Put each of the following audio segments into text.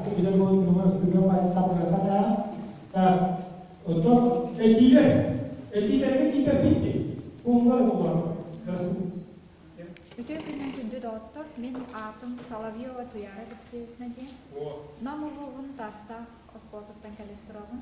Ити дойдуга күнэ байтабыата да ото этилер этилэргэ типербитти умбар улар Үтүө күнүн күндү доҕоттор, мин аатым Соловьева Туяра Алексеевна диэн. Нам улууһун Таастаах оскуолатыттан кэлэн тураҕын.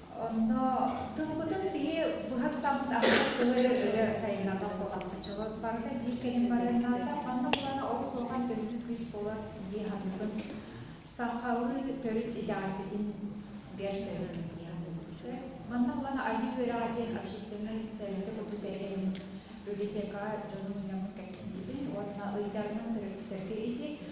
Онно тылбытын киһи быһаттаммыт аһаҕас тылы эрэ өрө сайыннарбат буолааччыбыт. Барыта биир кэлим барыаннаата. Манна булана олус улахан төрүт күүс буолар дии саныыбын. Сахалыы төрүт идеальбитин бэр төрөбүн дии саныыбын. Манна булана айыы үөрэҕэ диэн общественнай тэрилтэ курдук этэрим, библиотека дьонун уйаммын кэпсиибин уонна ыйдарынан төрөппүттэргэ ити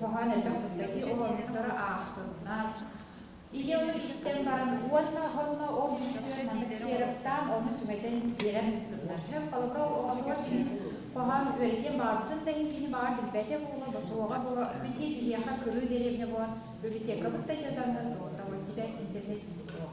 Хоһоон элбэх кэпсэтии олордуктары аахтыннар. Ийэ ону истэн баран уонна онно ол үтүө маннык сиэрэптаан ону түбэтэн биэрэн ыыттылар. Һөп холоко оҕотугар син хоһоон үөйтэн баҕарбытын да иһин кини баҕар билбэтэ буола босуоҕа буола бити биһиэхэ кырыы дэриэбинэ буолан библиотекабыт да дьадаҥы доҕотторо сибээс интернет диэн суох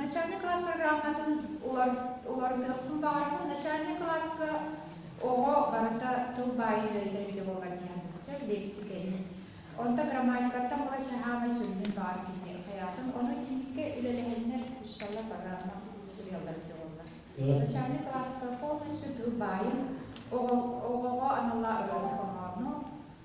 Начальник класса грамотатын уларытыахпын баҕарабын. Начальник класса оҕо барыта тылбаайыыта эбитэ буолан иһэн сөп лиэксикэни. Онто грамматикаттан былай саһаамай сүрүнүн баар кини хайаатын. Ону иитиккэ үлэлэһэннэр усталла программа суруйаллар эбитэ буолла. Начальник класска полностью тылбаайын оҕоҕо аналлаах ырыалар хоһоону